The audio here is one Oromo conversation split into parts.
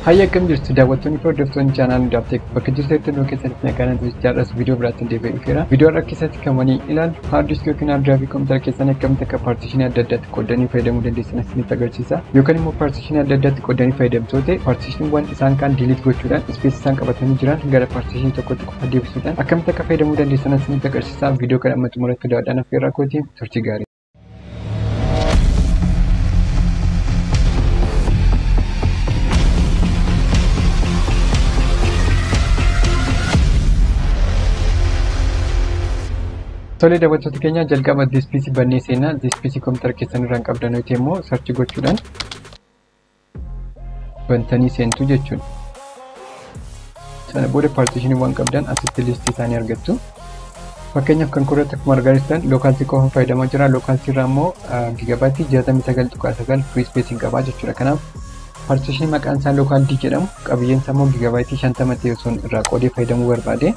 Hayya akkam jirtu daawwattoonni fi hordoftoonni chaanaal hundaaf ta'e bakka jirtetti hundoo keessanitti nagaan ta'e jaarras viidiyoo biraatti deebi'ee dhufeera. Viidiyoo har'a keessatti kan wanii ilaalu haard diiskii yookiin haard diraayivii kompiitara keessan akkamitti akka paartishinii adda addaatti qoodanii fayyadamuu dandeessan isinitti agarsiisa. Yookaan immoo paartishinii adda addaatti qoodanii fayyadamtoo ta'e paartishiniiwwan isaan kaan diiliit gochuudhaan ispeesii isaan qabatanii jiran gara paartishinii tokkotti qofa deebisuudhaan akkamitti akka fayyadamuu dandeessan isinitti agarsiisa. Viidiyoo kana amma xumuratti daawwadhaan affeerraa kooti turtii gaarii. Tolee daawwattoota keenya jalqaba diispiisii bannee seenaa diispiisii kompiitara keessan irraan qabdan nuti immoo sarchi gochuudhaan bantanii seentu jechuudha. Sana booda paartiishinii waan qabdan asitti liistii isaanii argattu. Fakkeenyaaf kan korratti akkuma argaa jirtan lookaalsii qofa fayyadamaa jira. Lookaalsii irraa immoo gigabaaytii 69.9 firii ispeesiin qabaa jechuudha. Kanaaf paartiishinii maqaan isaa lookaal D jedhamu qabiyyeen isaa immoo gigabaaytii 50 ta'e osoo irraa qoodee fayyadamuu barbaade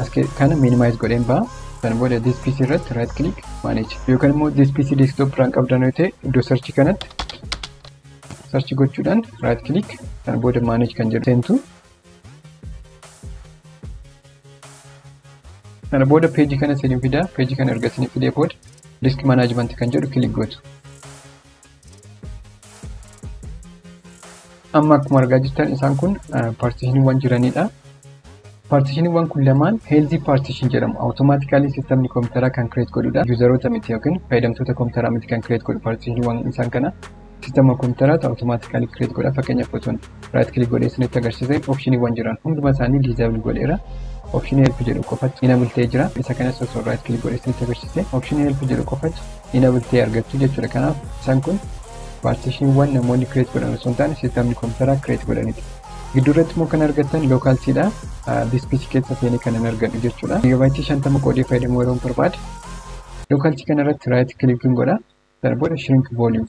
as kana minimaayiz godheen ba'a. Sana booda this PC irratti right click manage yookaan immoo this PC desktop irraan qabdan yoo ta'e iddoo search kanatti sarchi gochuudhaan right click kan booda manage kan jedhu seentu kana booda peejii kana isin fida peejii kana erga isin fidee booda disk management kan jedhu click gootu Amma akkuma argaa jirtan isaan kun paartishiniiwwan jiranidha. Paartishiniiwwan kun lamaan heelzii paartishin jedhamu. Awutomaatikaalii sistamni kompiitaraa kan kireet godhudha. Yuuzaroota miti yookiin fayyadamtoota kompiitaraa miti kan kireet godhu paartishiniiwwan isaan kana. Sistama kompiitaraatu awutomaatikaalii kireet godha. Fakkeenyaaf otoon raayit kilik godhee isinitti agarsiise opshiniiwwan jiran hunduma isaanii diizaabil godheera. Opshinii help jedhu qofatti inabul ta'ee jira. Isa kanas osoo raayit kilik godhee isinitti agarsiise opshinii help jedhu qofatti enable ta'e argattu jechuudha. Kanaaf isaan kun partitionwwan namoonni create godhan osoo hin taane systemni kompiitaraa create godhanidha. Gidduu irratti immoo kan argattan local dha. This PC keessa seenee kan hin argadhu jechuudha. Gigaabaayitii shantama qoodee fayyadamuu yeroo barbaade local kana irratti right clicking godha. Sana booda shrink volume.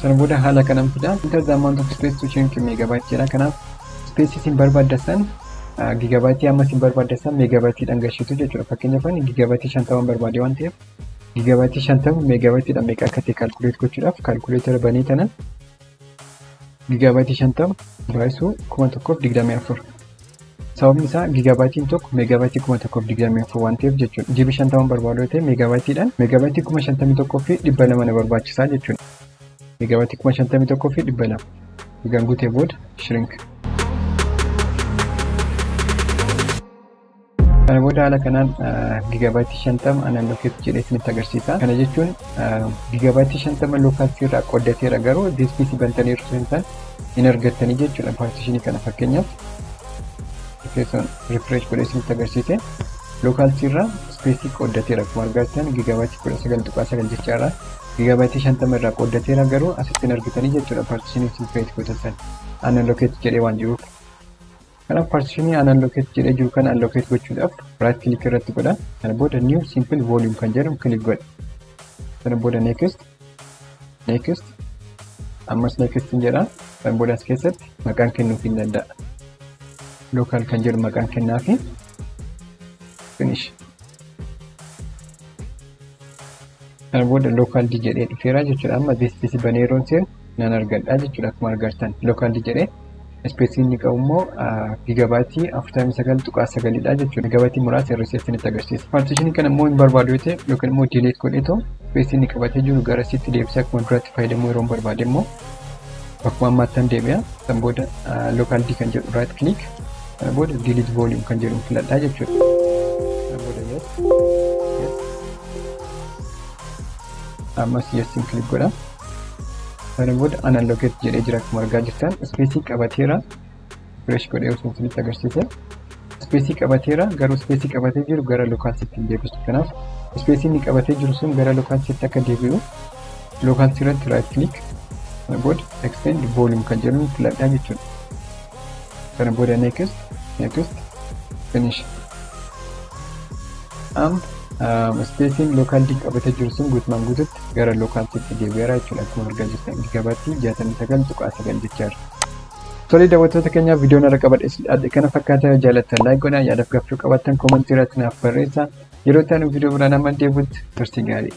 Sana booda haala kanan fida. Enter the amount of space to change to megabyte jedha. Kanaaf space isin barbaadda san gigabaaytii amma isin barbaadda san meegabaaytiidhaan gashitu jechuudha. Fakkeenyaaf ani gigabaaytii shantaman barbaade waan ta'eef gigabaaytii shantama meegabaaytiidhaan meeqa akka ta'e kaalkuleet gochuudhaaf kaalkuleetara banee tanan gigabaaytii shantama baay'isuu kuma tokkoof digdamii afur. Sababni isaa gigaabaayitiin tokko meegaabaayitii kuma tokkoof digdamii afur waan ta'eef jechuudha. Jibi shantaman barbaadu yoo ta'e meegaabaayitiidhaan meegaabayitii kuma shantamii tokkoo fi dhibba lama na barbaachisaa jechuudha. Meegaabayitii kuma shantamii tokkoo fi dhibba lama. Egaan guutee booda shrink. Kana booda haala kanaan gigaabaayitii shantama anaan lokeetti jedhee isinitti agarsiisa. Kana jechuun gigaabaayitii shantama lookaalsii irraa qoddateera garuu diispiisii bantanii irra hin taane hin argattanii jechuudha paartishinii kana fakkeenyaaf. keessan refresh godhee isinitti agarsiise lookaalsii irraa ispeesii qooddateera akkuma argattan gigaabaatii kudha sagal tuqaa sagal jecha irraa gigaabaatii shantama irraa qooddateera garuu asitti hin argitanii jechuudha paartishinii isin kireet godhatan analokeet jedhee waan jiruuf kanaaf paartishinii analokeet jedhee jiru kana analokeet gochuudhaaf raayit kilik irratti godha kana booda niiw siimpil vooliyum kan jedhamu kilik godha kana booda neekist next ammas next hin jedha kan booda as keessatti maqaan kennuuf hin danda'a local kan jedhu maqaan kennaa fi finish kan booda local di jedhee dhufeera jechuudha amma this this baneeroon seen nan argadha jechuudha akkuma argartan local di jedhee Ispeesiin inni qabu immoo giigabaayitii 49.9 dha jechuudha. Giigabaayitii muraasa irra isheetti nutti agarsiisa. Paartiishinii kana immoo hin barbaadu yoo ta'e yookiin immoo diiliit godhee ta'u ispeesii inni qabatee jiru gara isiitti deebisee akkuma duraatti fayyadamuu yeroo hin barbaade immoo akkuma ammaattan deebi'a. Kan booda lookaal dii kan jedhu raayit kiliik kan booda diiliit vooliyuum kan jedhu filadhaa jechuudha. Kan booda yes yes ammas yes kiliik godha. Sana booda unallocate jedhee jira akkuma argaa jirtan ispeesii qabateera fresh godhee osoo isinitti agarsiise ispeesii qabateera garuu ispeesii qabatee jiru gara lokaalsitti hin deebisu kanaaf ispeesii inni qabatee jiru sun gara lokaalsitti akka deebi'u lokaalsii irratti right click sana booda extend volume kan jedhu filadhaa jechuudha. kana booda next next finish am ispeesiin lookaal diin qabatee jiru sun guutumaan guututti gara lookaal sitti deebi'eera jechuudha akkuma argaa jirtan gabaatti jaatamii sagal tuqaa sagal jechaadha. Tole daawwattoota keenyaa viidiyoon irra qabadhe kana fakkaata jaalattan laayik godhaa yaadaaf gaafachuu qabaattan koomantii irratti naaf barreessaa yeroo itti aanu viidiyoo biraan amma deebi'utti turtii gaarii.